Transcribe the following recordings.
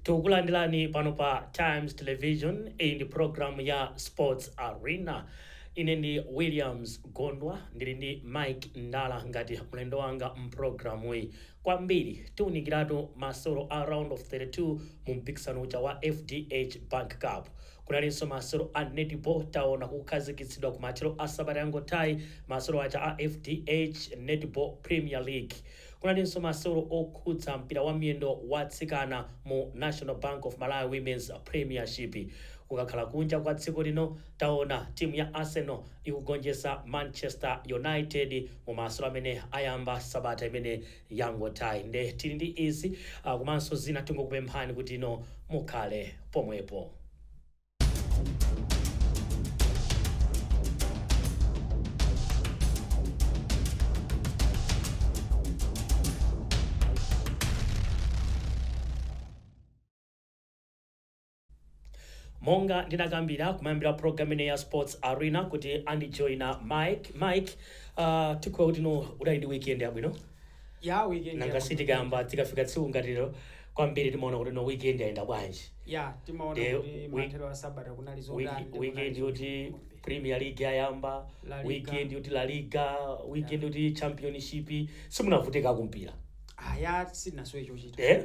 tikukulandirani pano pa times television iyi ndi programu ya sports arena ine ndi williams gondwa ndili ndi mike ndala ngati mlendo wanga mprogramuyi kwambiri tiunikiratu masewero a Round of 32 mu mpikisano uja wa FDH Bank Cup. Kunalinso masewero a Netball taona kukhazikitsidwa kumathero a sabata yangothayi masewero aja a FDH Netball Premier League. Kunalinso masewero okhudza mpira wa miyendo wa atsikana mu National Bank of Malawi Women's Premiership. Kukakhala kunja kwa dziko lino, Taona timu ya Arsenal ikugonjetsa Manchester United mu masewero amene ayamba sabata imene yangothayi nde tili ndi izi komanso zina tingokupemphani kuti inu mukhale pomwepo. Monga ndinakambira kumayambira a program ineyi ya sports arena kuti andijoina Mike. Mike, uh, tikhulupirira kuti no udali ndi weekend yabwino ya weekend nanga yabwino. sitikamba tikafika tsiku ngati lero kwambiri timaona kuti no weekend yayenda bwanji ya timaona Ndiye kuti wi- mathero a sabata kunali zotani Wiki- ndipo weekend kunali yoti zochuluka kwambiri. premier league yayamba La Liga. weekend yoti la liga weekend yoti championship simunavutika kumpira Ah, ya sitinasowe chochita eh?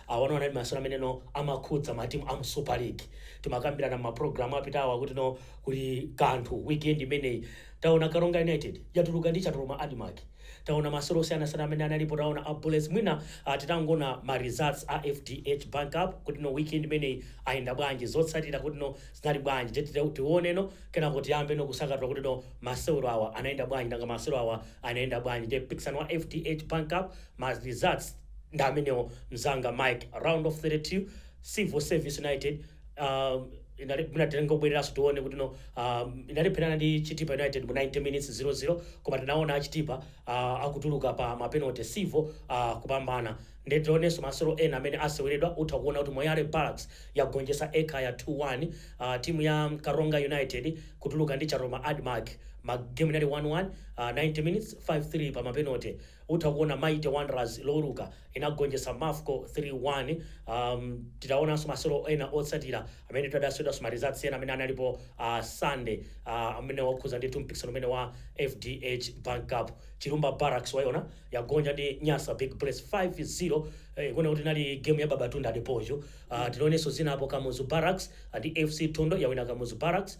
Awa anali masewero amene no amakhudza matimu amu Super League. Timakambirana mma program apitawa kuti no kuli kanthu weekend imeneyi. Taona Karonga United yatuluka ndi Chatoloma Admarc. Taona masewero osiyanasiyana amene analipo. Taona a Bullets mwina ah titangona ma results a FDH Bank Cup kuti no weekend imeneyi ayenda bwanji. Zotsatira kuti no zinali bwanji. Nde tite tione no kenako tiyambe no kusanthula kuti no masewero awa anayenda bwanji nanga masewero awa anayenda bwanji. Nde mpikisano wa FDH Bank Cup ma results. Ndi amenewo mzanga Mike round of 32 civil service united um, inali mwina titenge kubwereranso tione kuti no um, inalepherana ndi chitipa united mu 90 minutes 00 koma tinaona achitipa uh, akutuluka pa mapenalty civil uh, kupambana ndiye tionenso masewero ena amene aseweredwa utha kuona kuti moyale barracks yagonjetsa ekhaya 2-1 uh, timu ya karonga united kutuluka ndi chatoloma admarc magemu inali 1-1 uh, 90 minutes 5-3 pa mapenalty utha kuona mighty wanderers loweruka inagonjetsa mafco 3 1, ahm titaonanso masewero ena otsatira amene tadasewedwanso some results ena amene analipo sunday aah amene wokhudza ndithu mpikisano umene wa fdh bank cup chilumba barracks waiona yagonja ndi nyasa big bullets 5 0 eeh ikuoneka kuti inali game ya babatunde adepoju aah tionenso zina apo kamuzu barracks ndi fc thondwe yawina kamuzu barracks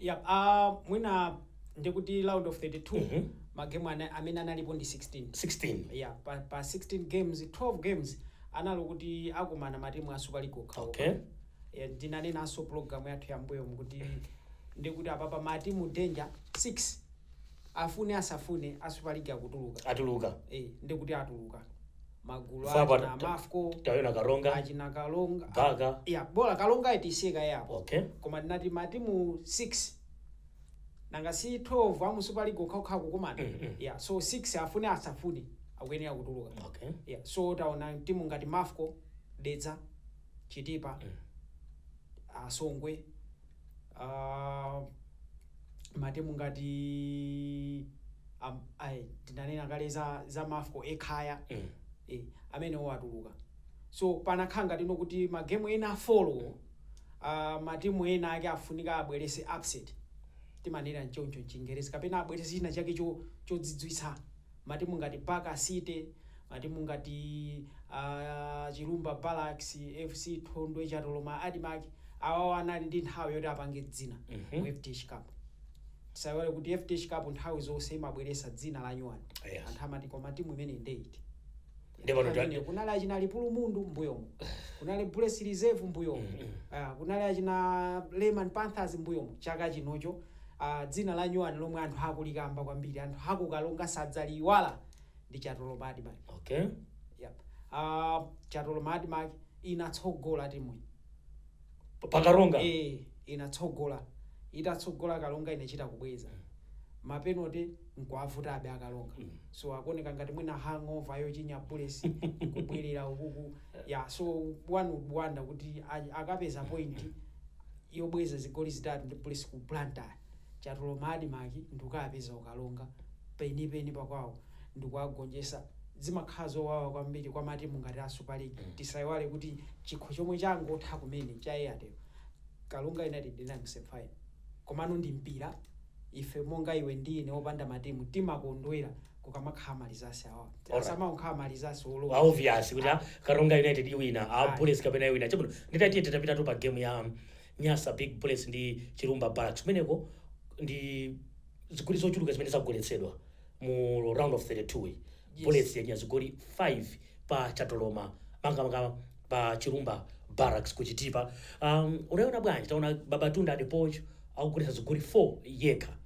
Yap, aah mwina ndekuti round of 32 ma game ana, amene analipo ndi 16. 16. Yeah, pa, pa 16 games, 12 games analo kuti akumana ma team a Super League okha okha. Okay. Yeah, ndinanenanso program yathu ya mbuyomu ndikuti apapa ma team danger 6 afune asafune a Super League akutuluka. Atuluka. Eh, ndikuti atuluka. magulu Fapa- achina mafco tayona karonga achina kalonga gaga ya bola karonga itisiye kaye apo okay koma ndinati matimu 6 nanga si 12 amu super league okhaokha kukumana Mm, mm. ya so 6 afune asafune akuyenera kutuluka okay yeah. so taona timu ngati mafco dedza chitipa Mm. a songwe Ah, matimu ngati am- ai, tinanena kale za, za mafco ekhaya Mm. eh, amenewo atuluka so panakhala ngati no kuti magemu ena afolowo uh, matimu ena ake afunika abweretse upset timanena nchoncho mchingerezi kapena abweretse china chake cho- chodzidzwitsa matimu ngati Baka City, matimu ngati a Chilumba Barracks, FC Thondwe, Chatoloma Admarc, awawa anali ndi nthawi yoti apange dzina mu FDH Cup. Tisaiwale kuti FDH Cup nthawi zonse imabweretsa dzina lanyuwani. Yes. Anthu amati koma timu imeneyi nde iti? Ndipo Nthawi imeneyo kunali achina ntopwa lipulumundu mbuyomo kunali bullets reserve mbuyomo Ah, kunali achina leyman panthers mbuyomo chaka chino cho ah, dzina la nyuwani lomwe anthu akulikamba kwambiri anthu aku karonga sadzaliyiwala ndi chatoloma admarc okay. yep. ah, chatoloma admarc inatsogola timuyi Pa- pakaronga Eh, inatsogola itatsogola karonga inachita kubweza mapenalty nkuavutabe a karonga so akuoneka ngati mwina hangover yochinya bullets nkubwerera ukuku ya so one would wonder kuti a- akapeza point yobweza zigoli zitatu ndi bullets ku blantyre Chatoloma admarc ndikukapeza ku karonga penipeni pakwawo ndikuwagonjetsa zimakhala zowawa kwambiri kwa matimu ngati a super league tisaiwale kuti chikho chomwe changotha kumene cha airtel karonga united inali mu semi final komano ndi mpira ife monga iwe ndi ine opanda matimu timakondwera kukamakhala ma results awa Alright. asamangokhala ma results awa olowa obvious kuti ah, karonga united iwina a Ayi. bullets kapena iwina chabwino nditatiye titapitatu pa game ya Nyasa Big Bullets ndi Chilumba Barracks kumeneko ndi zigoli zochuluka zimene zagoletsedwa mu round of 32 yi Yes. Bullets yachinya zigoli 5 pa Chatoloma makamaka pa Chilumba Barracks ku Chitipa um, unaona bwanji taona Babatunde Adepoju akugoletsa zigoli 4 yekha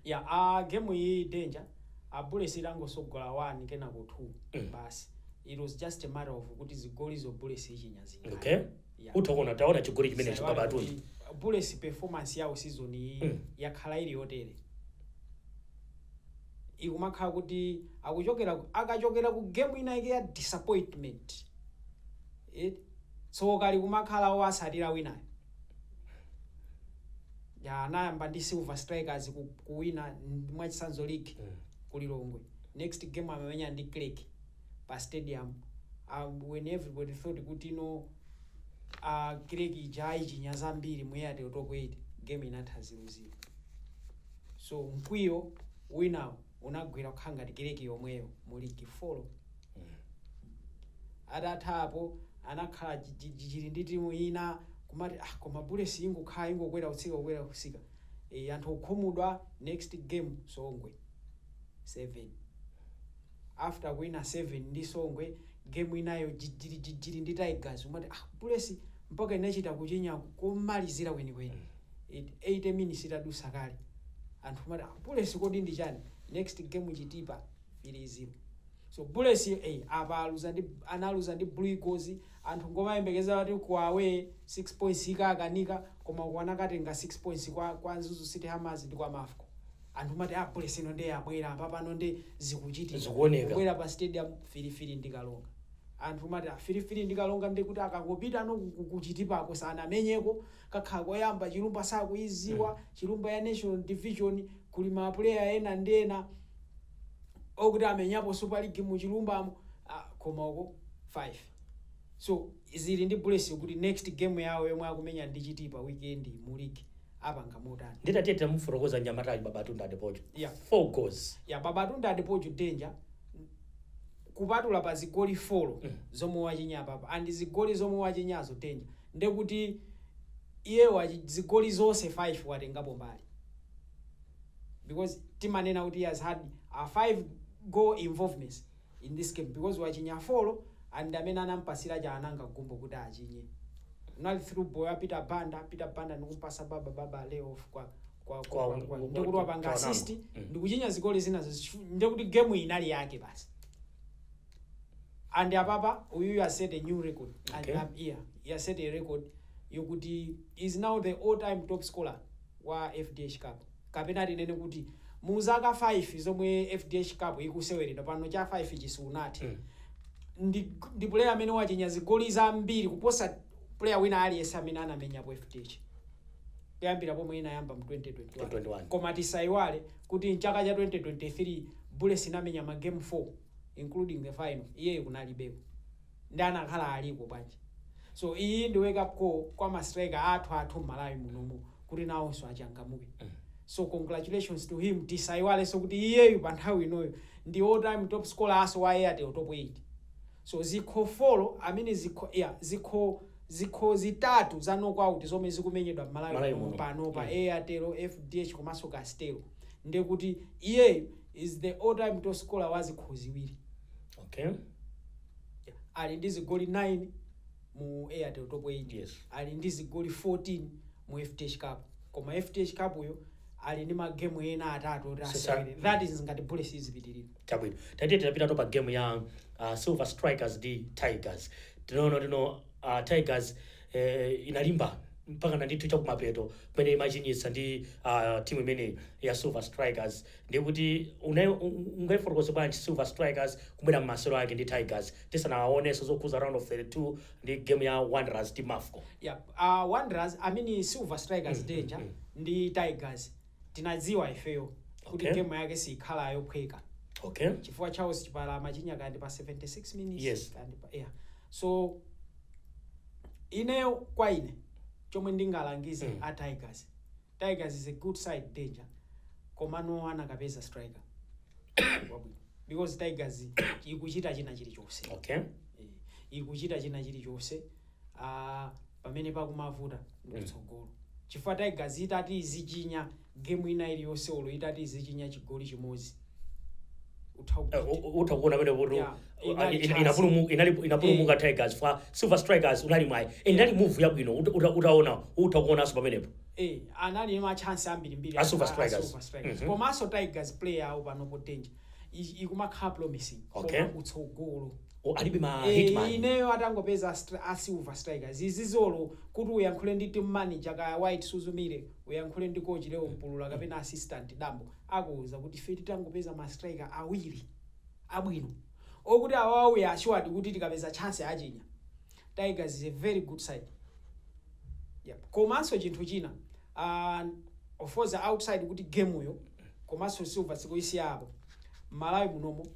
ya a game iyi danger a bullets itangosogola 1 kenako 2 basi it was just a matter of kuti zigolizo bullets ichinya zingati okay Utha kuona taona chigoli chimenechi Saiwala baba kuti atuni. Bullets performance yawo season iyi Mm. yakhala ili yotere. Ikumakhala kuti akuchokera ku- akachokera ku game ina yake ya disappointment. Eh? Tsoka likumakhala owasatira winayo. Ya anayamba ndi Silver Strikers ku- kuwina mwachitsanzo league Mm. ku Lilongwe. Next game amamenya ndi Creck. pa stadium uh, when everybody thought kuti no uh, Creck ija ayichinya zambiri mu airtel top 8 game inatha 0-0 so mkwiyo winawo unagwera kukhala ngati Creck yomweyo mu league 4 atatha apo anakhala jijirijijiri ndi timu ina kumati ah, koma bullets ingokhala ingokwera kutsika kukwera kutsika e, anthu okhumudwa next game songwe 7 after kuwina 7 ndi songwe game inayo jijirijijiri ndi tigers umati ah bullets mpaka inachita kuchinya komalizira kwenikweni It- 80 minutes itadusa kale anthu umati ah bullets kodi ndi chani next game chitipa 3-0 so bullets eh, apa aluza ndi analuza ndi blue eagles Anthu nkumayembekezera kuti ku away 6 points ikakanika koma uko anakatenga 6 points kwa kwa Mzuzu City Hammers ndi kwa Mafco. Anthu mumati ah Bullets ino nde yabwera apa pano nde zikuchitika. Zikuoneka. Kubwera pa stadium 3-3 ndi Karonga. Anthu mumati ah 3-3 ndi Karonga nde kuti akangopitano ku- ku- ku Chitipa ko sanamenyeko kakhala koyamba Chilumba sakuiziwa. Chilumba ya National Division kuli ma player ena ndi ena. okuti amenyapo super league mu chilumbamo ah, koma uko 5 so zili ndi bullets kuti next game yawo yomwe akumenya ndi chitipa weekend mu league apanga motani nde tatiye tamufotokoza nyamata ali Babatunde Adepoju Yeah. four goals ya Babatunde Adepoju danger kupatula pa zigoli 4 Mm. zomwe wachinya apapa and zigoli zomwe wachinyazo danger ndekuti iye wachi zigoli zonse 5 watengapo mbali because timanena kuti he has had a 5 goal involvements in this game because wachinya 4 and ndi amene anampasira Chawanangwa Gumbo kuti achinye unali through ball ya Peter Banda Peter Banda ndikumpasa baba baba lay off kwa kwa Kwa- kwa, kwa, kwa- ndi kuti wapanga assist Mm. ndi kuchinya zigoli zina zichu- ndi kuti game iyi inali yake basi and apapa uyu has set a new record Okay. and um, yeah, he has set a record yokuti is now the all time top scorer wa fdh cup kapena tinene kuti mu zaka 5 zomwe fdh cup ikuseweredwa pano cha 5 chi sichinathe ndi, ndi player amene wachinya zigoli zambiri kuposa player wina aliyense amene anamenyapo fdh kuyambira pomwe inayamba mu 2021 koma tisaiwale kuti mchaka cha 2023 bullets inamenya magame 4 including the final iyeyo kunalibeko nde akanakhala aliko bwanji so iyi ndi wake up call kwa ma striker athu mmalawi munomu kuti nawonso achangamuke so congratulations to him tisaiwalenso kuti iyeyu pa nthawi inoyo ndi all time top scorer also wa airtel top 8 so zikho folo amene zikho ya zikho zikho zitatu za knockout zomwe zikumenyedwa mmalawi muno panopa Mm. airtel fdh komanso castel ndekuti iyeyu is the all time top scorer wa zikho ziwiri okay Ali ndi zigoli 9 mu Airtel Top 8. Yes. Ali ndi zigoli 14 mu FDH Cup. Koma FDH Cup yo ali ndi magemu ena atatu oti Sasa- asewere. That is ngati Bullets izipitirira. chabwino tatiye tinapitako pa game ya uh, silver strikers ndi tigers tinaona timu uh, tigers eh, inalimba mpaka na ndithu chakumapeto kumene imachinyitsa ndi uh, timu imeneyi ya silver strikers Ndiye kuti ungaifotokoze bwanji Silver Strikers kubwera mmasewero ake ndi Tigers tisanawaonenso zokhuza round of 32 ndi game ya Wanderers ndi Mafco? Yap, Wanderers I mean Silver Strikers Danger ndi Tigers tinadziwa ifeyo kuti Okay. game yake sikhala yophweka Okay. chifukwa Charles Chipala amachinya kaya ndi pa 76 minutes Yes. kaya ndi pa yeah so ineyo kwa ine chomwe ndingalangize a Tigers Tigers is a good side danger komano akanapeza striker wabwino because Tigers ikuchita china chilichonse okay Eh, ikuchita china chilichonse ah, pamene pakumavuta ndikutsogolo chifukwa Tigers itati izichinya game ina iliyonse olo itati izichinya chigoli chimodzi utha Eh, u- u- utha kuona pamene kuti Yeah. uh, Inali ina- chance. inapulumu- inali- inapulumuka tigers ifa silver strikers unali mwayi Eh, inali move yabwino uta- uta- utaona utha kuonanso pamenepo Eh, anali ndi machance ambirimbiri A Silver a- a Strikers. Silver Strikers. Mhm. komanso tigers player awo panopo danger I- ikumakhala promising Okay. koma kutsogolo O, alibe ma Eh, hitman ineyo atangopeza stri- a silver strikers zizolo kuti uyankhule ndi team manager kaya white suzumire uyankhule ndi coach leo mpulula kapena assistant dambo akuuza kuti ife titangopeza ma striker awiri abwino okuti awawa we are assured kuti tikapeza chance achinya. Tigers is a very good side. Yep. Komanso chinthu china uh, of course outside kuti game yo komanso silver tikaisiya apo Malawi munomo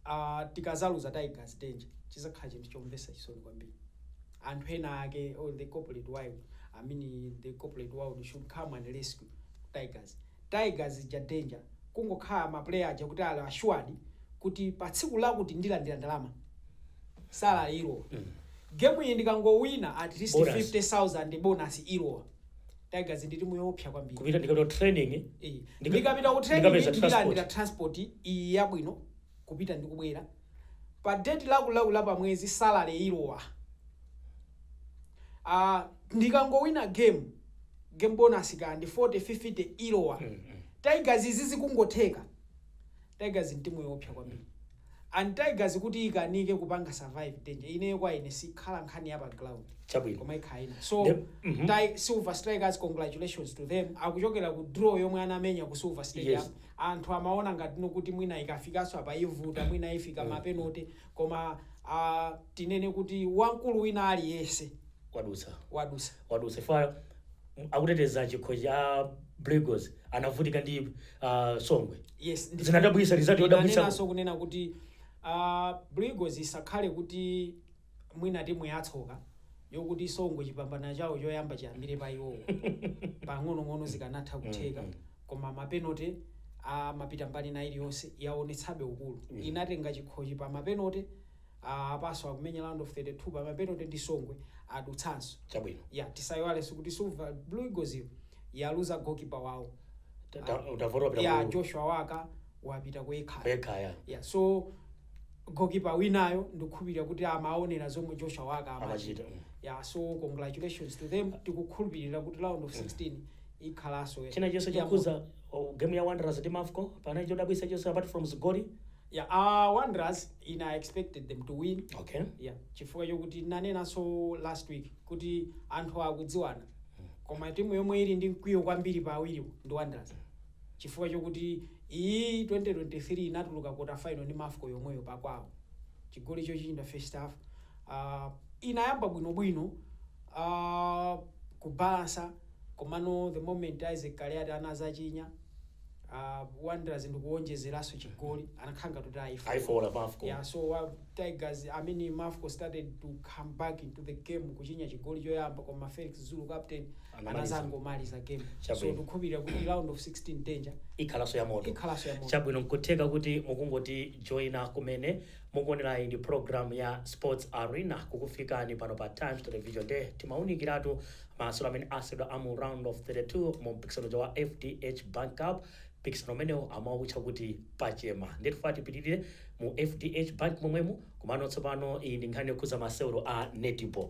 uh, tikazaluza Tigers danger chizakhala chinthu chomvesa chisoni kwambiri. anthu ena ake or the corporate world i mean the corporate world should come and rescue tigers tigers ija danger kungokhala ma player aja kuti ali assured kuti pa tsiku lakuti ndilandira ndalama salary ilowa game iyi ndikangowina at least Bonus. 50000 bonus ilowa tigers ndi timu yoopsa kwambiri kupita ndikapita training Eh, Ndika- ndikapita ku training ndikapeza ndilandira transport. transport iyi yabwino kupita ndi kubwera pa date laku laku la pa mwezi salary ilowa ah ndikangowina game game bonus kaya ndi 40 50 ilowa tigers izi zikungotheka tigers ndi timu yoopsa kwambiri and tigers kuti ikanike kupanga survive danger ineyo kwa ine sikhala nkhani ya pa ground Chabwino. koma ikhala ina so Ndep- mhm. Ti- silver strikers congratulations to them akuchokera ku draw yomwe anamenya ku silver stadium Yes. anthu amaona ngati no kuti mwina ikafikanso apa ivuta mwina ifika ma penote koma aah tinene kuti wamkulu wina aliyense wadutsa wadutsa wadutsa chifukwa m- akuteteza chikho cha blue eagles anavutika ndi uh, songwe yes ndi- zinadabwisa result yodabwisa ndinanenanso kunena kuti uh, blue eagles isakhale kuti mwina timu yatsoka yokuti songwe chipambano chawo choyamba chiyambire pa iwowo pang'onong'ono zikanatha kutheka koma mapenote amapita mbali ina iliyonse yaonetsabe ukulu inatenga chikhochi pa mapenote apanso akumenya round of 32 pa mapenote ndi songwe adutsanso chabwino ya tisaiwalenso kuti silver blue eagles iyo yaluza gokipa wawo Ta- ta- utavota wapita ya ku- joshua waka wapita ku ekhaya kwekhaya ya so gokipa winayo ndikukhulupirira kuti amaonera zomwe joshua waka amachita Amachita, mm. yeah, so congratulations to them tikukhulupirira kuti round of 16 ikhalanso china chilichonse ya chokhudza oh, game ya wanderers ndi mafco panali chodabwisa chonse apart from zigoli moto. yeah, uh, wanderers ine i expected them to win okay yeah. chifukwa chokuti nanenanso last week kuti anthu akudziwana koma timu yomwe ili ndi mkwiyo kwambiri pa awiriwo ndi wanderers chifukwa chokuti iyi 2023 inatuluka quarter final ndi mafco yomweyo pakwawo chigoli chochinyidwa first half uh, inayamba bwinobwino uh, kubalansa komano the moment isaac kaliati anazachinya uh, wanderers ndikuwonjezeranso chigoli anakhala ngati kuti aifa ayifola mafco yeah, so uh, tigers i mean mafco started to come back into the game kuchinya chigoli choyamba koma felix zulu captain anazangomaliza game so Chabwino. tikukhulupirira kuti round of 16 danger ikhalaso ya moto Ikhalaso ya moto. chabwino nkutheka kuti mukungoti joina kumene mukuonerayi ndi program ya sports arena kukufikani pano pa times television nde timaunikiratu masewero amene aseweredwa amu round of 32 mu mpikisano uja wa fdh bank cup mpikisano umenewu amautcha kuti pachema ndiye tifuna tipitirire mu fdh bank momwemo komano tsopano iyi ndi nkhani yokhuza masewero a netball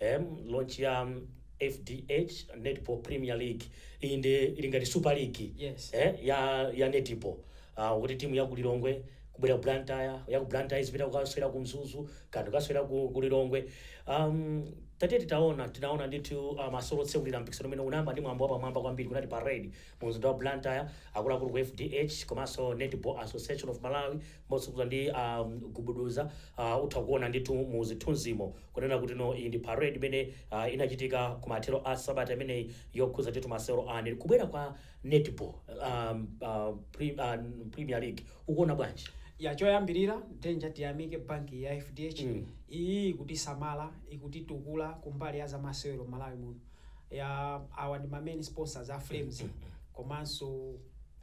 Eem launch ya fdh netball premier league iyi nde ili ngati super league Yes. eh ya ya netball ah kuti timu ya ku Lilongwe kubwera ku Blantyre ya ku Blantyre izipita kukasewera ku Mzuzu kanthu kasewera ku, ku Lilongwe um, tatiye titaona tinaona ndithu uh, masewero otsekulira mpikisano umene unayamba ndi mwambo wapamwamba kwambiri kunali parade mu mzinda wa Blantyre akuluakulu ku fdh komanso netball association of Malawi motsogozedwa ndi a gubuduza a utha kuona ndithu mu zithunzimo kunena kuti no iyi ndi parade imene a, inachitika kumathero a sabata imeneyi yokhudza ndithu masewero a net kubwera kwa netball a, a, pre, a, premier league ukuona bwanji ya choyambirira danger tiyamike banki ya fdh Mm. iyi ikutisamala ikutitukula kumbali ya zamasewero mmalawi muno ya awa ndi ma main sponsors a flames komanso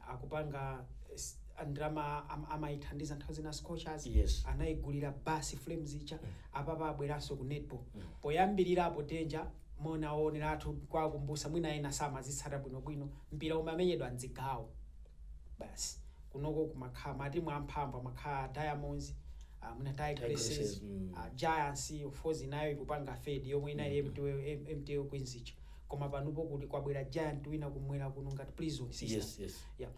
akupanga s- ndalama am- amaithandiza nthawi zina scorchers Yes. anaigulira basi flames ija apapa abweranso ku netball poyambirira apo danger mwina oonera athu kuwakumbusa mwina ena samazitsata bwinobwino mpira umamenyedwa mdzigawo basi kunoko kumakhala matimu amphamvu amakhala diamonds ah, mwina Tigresses, tigresses mm. ah, giants of course inayo ikupanga fade yomwe inali mtl queens ija koma panupo kuli kwabwera giant wina kumwera kuno ngati prison sisters Yes, yes. yeah.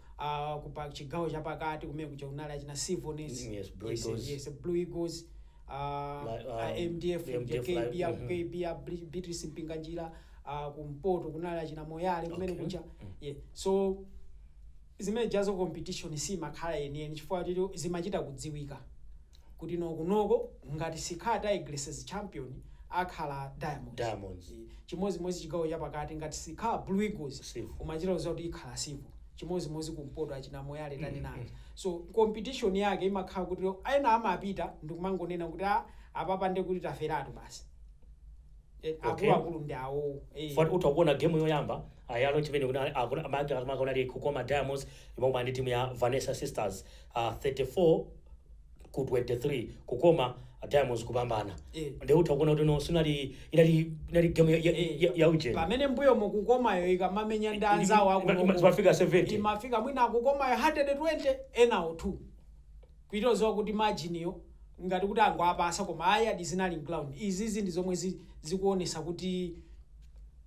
uh, kupa chigawo chapakati kumene kuja kunali achina civonets Mm, yes, Blue Eagles. yes, yes, blue eagles uh, Like, um, uh, mdf the MDF, kb like, aku mhm. kb ya Bri- beatrice mpinganjira uh, kumpoto kunali achina moyale kumene Okay. kuja yeah. so zimene jazo competition simakhala yeniyeni chifukwa kuti zimachita kudziwika kuti no kunoko ngati sikhala tigresses champion akhala diamonds, diamonds. E, chimozimozi chigawo chapakati ngati sikhala blue eagles Civo. umachita kuziwa kuti ikhala Civo chimozimozi kumpoto achina moyale tani na aja so competition yake imakhala kuti ena amapita ndikumangonena kuti a apapa nde kuti taferatu basi e, Okay. akuluakulu ndi awowo e. moti utha kuona game yoyamba ayalo chimene kuti amake amakaona ali kukoma diamonds imwe ndi timu ya vanessa sisters 34 ku 23 kukoma diamonds kupambana Eh. nde utha kuona kuti no sinali inali inali game ya, ya, ya, ya ujeni pamene mbuyomo kukomayo ikamamenya ndi anzawo Ima- ima- akuloko zimafika 70 imafika mwina akukomayo 120 enawo 2 kuitoziwa kuti margin yo ngati kuti angowapasa koma ayadi zinali mground izizi ndi zomwe zi- zikuonesa kuti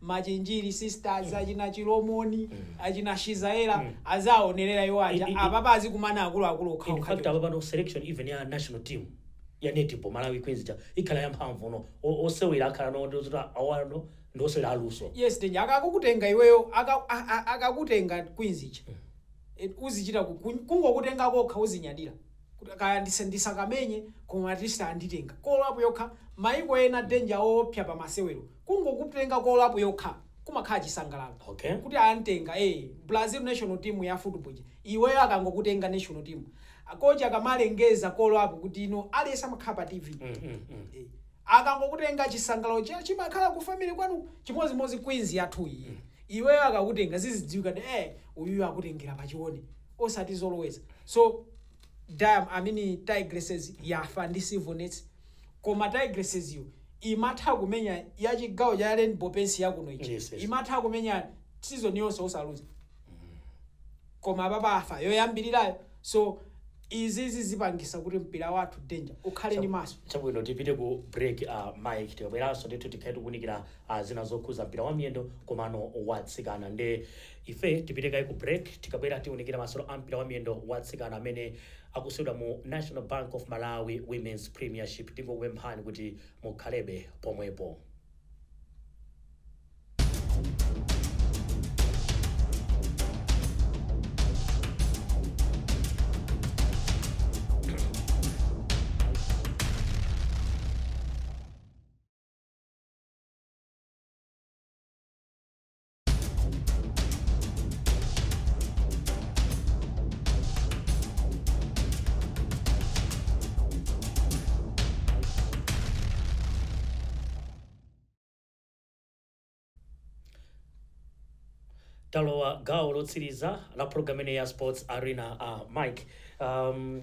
Machinjiri sisters, achina Chilomoni, achina Shizaella azaonerera iwo aja. I- i- i- Apapa azikumana akuluakulu in okhaokha. fact apa pano selection even ya national team ya netball malawi queens ja ikhala yamphamvu no O- osewera akhala no ndi ozoti awano ndi osewera aluso Yes, Denja akakutenga iweyo aka- a- a- akakutenga Queens ija. Eh, Uzichita ku- ku- kungokutenga kokha uzinyadira. Kuti Kaya ndise- ndisakamenye koma at least anditenga. Call-up yokha maiko ena Denja opya pa masewero. Kungokutenga call-up yokha kumakhala chisangalalo Okay. kuti antenga ee Brazil national team ya football ija iweyo akangokutenga national team a coach akamalengeza call-up kuti ino aliyese amakhala pa TV ee akangokutenga chisangalalo cha chimakhala ku family kwanuko chimozimozi queens yathu iyi iweyo akakutenga zizidziwika kuti ee uyuyu akutengera pa chione osati zoloweza so Diam I mean Tigresses yafa ndi Civonets koma tigresses yo imatha kumenya ya chigawo cha rainbow paints yakuno ija Yes, yes. imatha kumenya season yonse osaluza koma apapa afa yoyambirirayo so izizi zipangisa kuti mpira wathu danger ukhale ndi maso chabwino tipite ku break uh, mike tikabweranso ndithu tikhale tikunikira uh, zina zokhuza mpira wa miyendo komano watsikana nde ife tipite kaye ku break tikabwera tiunikira masolo a mpira wa miyendo watsikana amene akusewera mu National Bank of Malawi Women's Premiership tingokupemphani kuti mukhalebe pomwepo. talowa gawo lotsiriza la program imeneyi ya sports arena uh, mike um,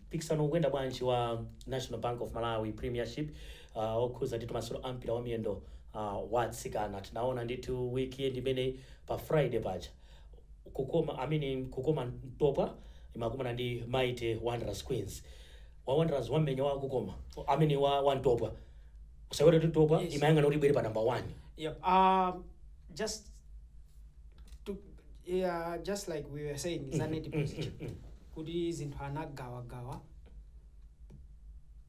mpikisano ukuyenda bwanji wa national bank of malawi premiership uh, okhuza ndithu masewero a mpira wa miyendo uh, wa atsikana tinaona ndithu weekend imeneyi pa friday paja kukoma I mean, kukoma mtopwa imakumana ndi mighty wanderers queens wa wanderers wamenya wa kukoma I mean, wa, wa mtopwa usaiwale kuti mtopwa Yes. imayang'ana kuti ibwere pa number one Yep. Um, just to yeah, just like we were saying, is an, mm, mm, positive. mm, mm. Kuti zinthu anagawagawa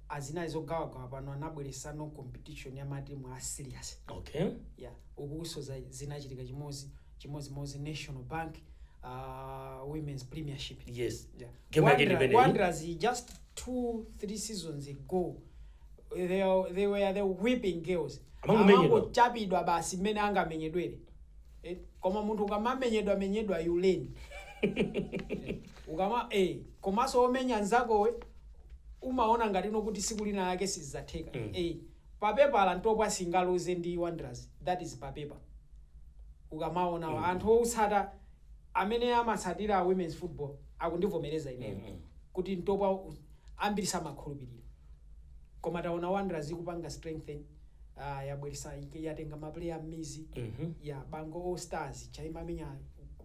azimayi zogawagawa pano anabweretsano competition ya matimu a serious okay yeah uku zoza zinachitika chimozi chimozi mozi national bank uh, women's premiership yes Yeah. Game yake ndi Wanderer- imeneyi. Wanderers just two three seasons ago they, are- they were the whipping girls Amangomenyedwa. Amangochapidwa basi mmene angamenyedwere Eh, koma munthu ukamamenyedwa menyedwa you learn ukama eh, komanso omenya nzakowe umaona ngati ndi kuti tsiku lina lake sizizatheka Mm. eh, papepala Ntopwa singaluze ndi Wanderers that is papepa ukamaona Mm. anthu otsata amene amatsatira women's football akundivomereza ineyo Mm, mm. kuti ntopwa u- ambiri samakhulupirira koma taona Wanderers ikupanga strengthen ah, yabweresa yatenga mapuleya m'mizi Mhm. ya bango all stars cha imamenya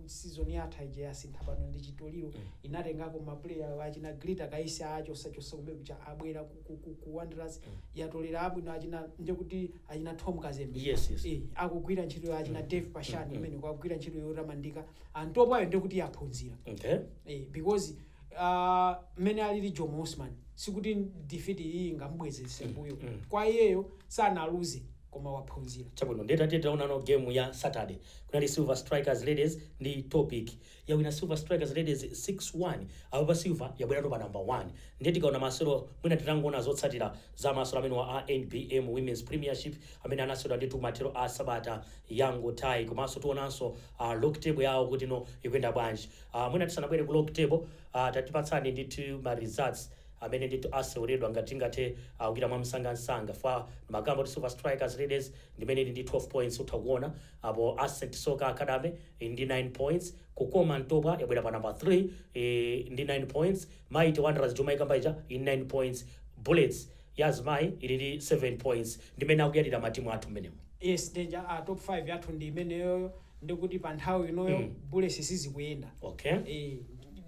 season yatha ija yasintha pano ndi chitoliro inatengako mapuleya achina Glitter Kaisi achosachosa kumene kucha abwera ku- ku- ku- ku wanderers yatolera abwino achina ndekuti achina tom kazembe Yes, yes. Eh, akugwira ntchito ya achina dave pashani imene kwagwira ntchito yotamandika Ntopwayo ndekuti yaphunzira okay Eh, because Uh, mmene alili Jomo Osman sikuti defeat iyi ingamubwezese mbuyo mm. kwa iyeyo sanaluze koma waphunzira chabwino ndiye tatiye tionano game ya saturday kunali silver strikers ladies ndi topic yawina silver strikers ladies 6-1 apapa silver yabwerano pa number 1 ndiye tikaona masewero mwina titangoona zotsatira za masewero amenewa a nbm women's premiership amene anaseweredwa ndithu mathero a sabata yangothayi komanso tionanso uh, log table yawo kuti no ikuyenda bwanji Aaa mwina tisanabwere ku log table aah tatipatsani ndi ma results amene ndithu aseweredwa ngati tingathe kuchita mwamsangansanga pa ndimakamba kuti Silver Strikers Ladies ndimene ili ndi 12 points utha kuona apo Ascent Soccer Academy ili ndi 9 points Kukoma Ntopwa yabwera pa number 3 iih ndi 9 points Mighty Wanderers yomwe amaikamba ija ili ndi 9 points Bullets ya azimayi ili ndi 7 points ndimene akuyalira ma team athu mmenemo. Yes danger a top 5 yathu ndi imeneyoyo ndekuti pa nthawi inoyo bullets sizikuyenda Okay. ee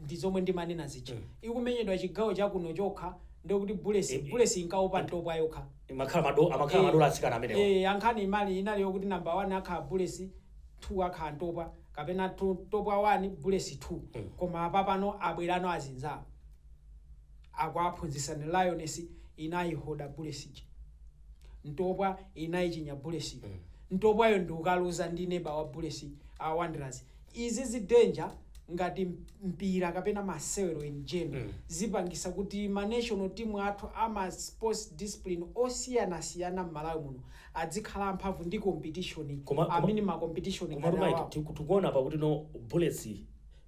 ndi zomwe ndimanena zija ikumenyedwa chigawo chakuno chokha ndekuti bullets Eh, eh. bullets inkaopa Ntopwa yokha Imakhala mado amakhala madola atsikana amenewo. eh nkhani imali inali yokuti number 1 akhala bullets 2 akhala Ntopwa kapena tu- Ntopwa 1 bullets 2 koma apa pano abwerano azinzawo akuwaphunzitsa ni Lioness inayihoda bullets ntopwa inayichinya bullets ntopwayo ndikukaluza ndi neba wa bullets a Wanderers izizi danger ngati mpira kapena masewero in general zipangisa kuti ma national team athu ama sports discipline osiyanasiyana mmalawi muno adzikhala amphamvu ndi competition Koma- koma- I mean ma competition koma ngati lomwe awawa tikuona apa kuti no bullets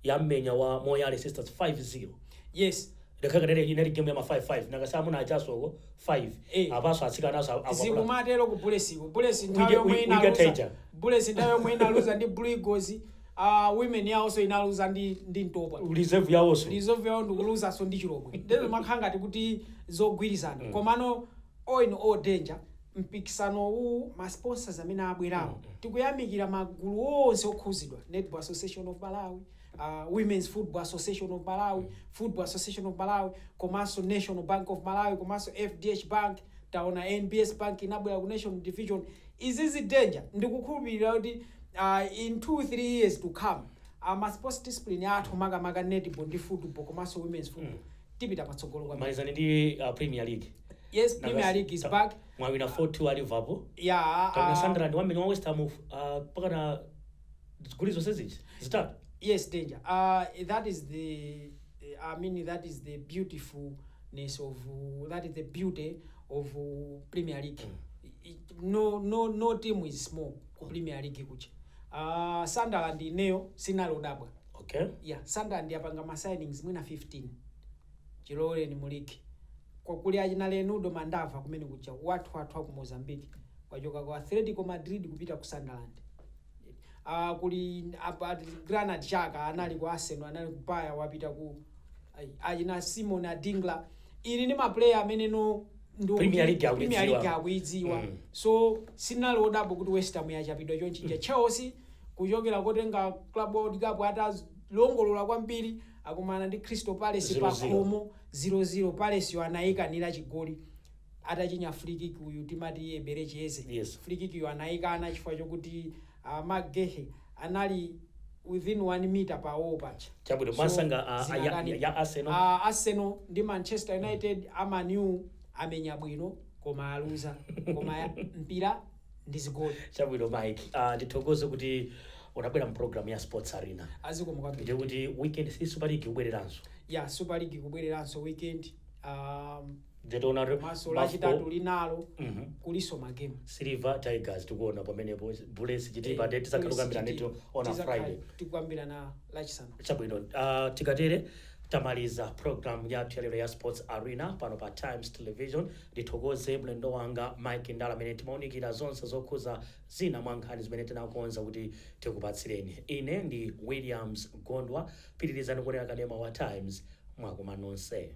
yammenya wa Moyale sisters 5 zero yes ngakhale kanene inali game ya ma 5 5 nanga si amuna achaso ko 5 Eh. apaso atsikanaso akwapulidwa zikumatero ku bulletsko bullets We nthawi get- yomwe we- we get inaluza Tiger. bullets nthawi yomwe inaluza ndi blue eagles uh, women yawonso inaluza ndi, ndi Ntopwa reserve yawoso reserve yawo ndikuluzanso ndi Chilobwe ndeno imakhala ngati kuti zogwirizana komano all in all danger mpikisano uwu, ma sponsors amene abwerawo, tikuyamikira magulu onse okhuzidwa, Netball Association of Malawi, Women's Football Association of Malawi, Football Association of Malawi, komanso National Bank of Malawi, komanso FDH Bank, taona NBS Bank inabwera ku National Division, izizi danger, ndikukhulupilira kuti in two, three years to come, ma sports discipline athu makamaka Netball ndi Football komanso Women's Football, tipita patsogolo kwambiri malizani ndi uh, premier league yes Nanga premier si- league is ta- back mwawina 4-2 a liverpool yeah kapena uh, sunderland wamene wa west ham uh, pakana zigoli zonse zija zitatu yes danger uh, that is the i mean that is the beautifulness of uh, that is the beauty of uh, premier league I- i- no no no team is small ku premier league kucha uh, sunderland ineyo sinalodabwa okay. yeah Sunderland yapanga ma signings mwina 15 chiloweleni mu league Kwa- kuli achina Reinildo Mandava kumene kuja wathu wathu aku mozambique wachoka ku atletico madrid kupita ku sunderland uh, kuli apa Granit Xhaka anali ku arsenal anali ku Bayer wapita ku ai, achina Simon Adingra ii ni maplayer amene no ndi wokuti Premier League akuidziwa. Premier League akuidziwa Mm. so sinali odabwa kuti west ham yachapidwa chonchija chelsea kuchokera kotenga club world cup atalongolola kwambiri akumana ndi crystal palace Zero zero. pakhomo 00 palace yo anayikanira chigoli atachinya free kick uyu timati Eberechi Eze Yes. free kick yo anayikana chifukwa chokuti a Marc Guehi anali within 1 mita pa wall paja Chabwino, so mwansanga a- a- ya- zinakanika ya Arsenal? a arsenal ndi manchester united a Man U amenya bwino koma aluza koma ya- mpira ndi zigoli chabwino mike uh, ndithokoze kuti unabwera mpulogalamu ya sports arena azikomo kwambiri ndiye kuti weekend si super league kubwereranso ya super league kubwereranso weekend um, Jatona re- komanso Mafco, lachitatu linalo Mhm. kulinso magemu Silver, Tigers tikuona pamenepo Bullets Chitipa nde tizakhala tikukambirana eti on a Friday. tikambirana lachisanu Chabwino uh, tikatere tamaliza program yathu yalero ya Sports Arena pano pa Times Television. Ndithokoze mlendo wanga Mike Ndala amene timaunikira zonse zokhuza zina mwa nkhani zimene tinakonza kuti tikupatsireni. Ine ndi Williams Gondwa, pitirizani kuonera kanema wa Times mwakumanonse.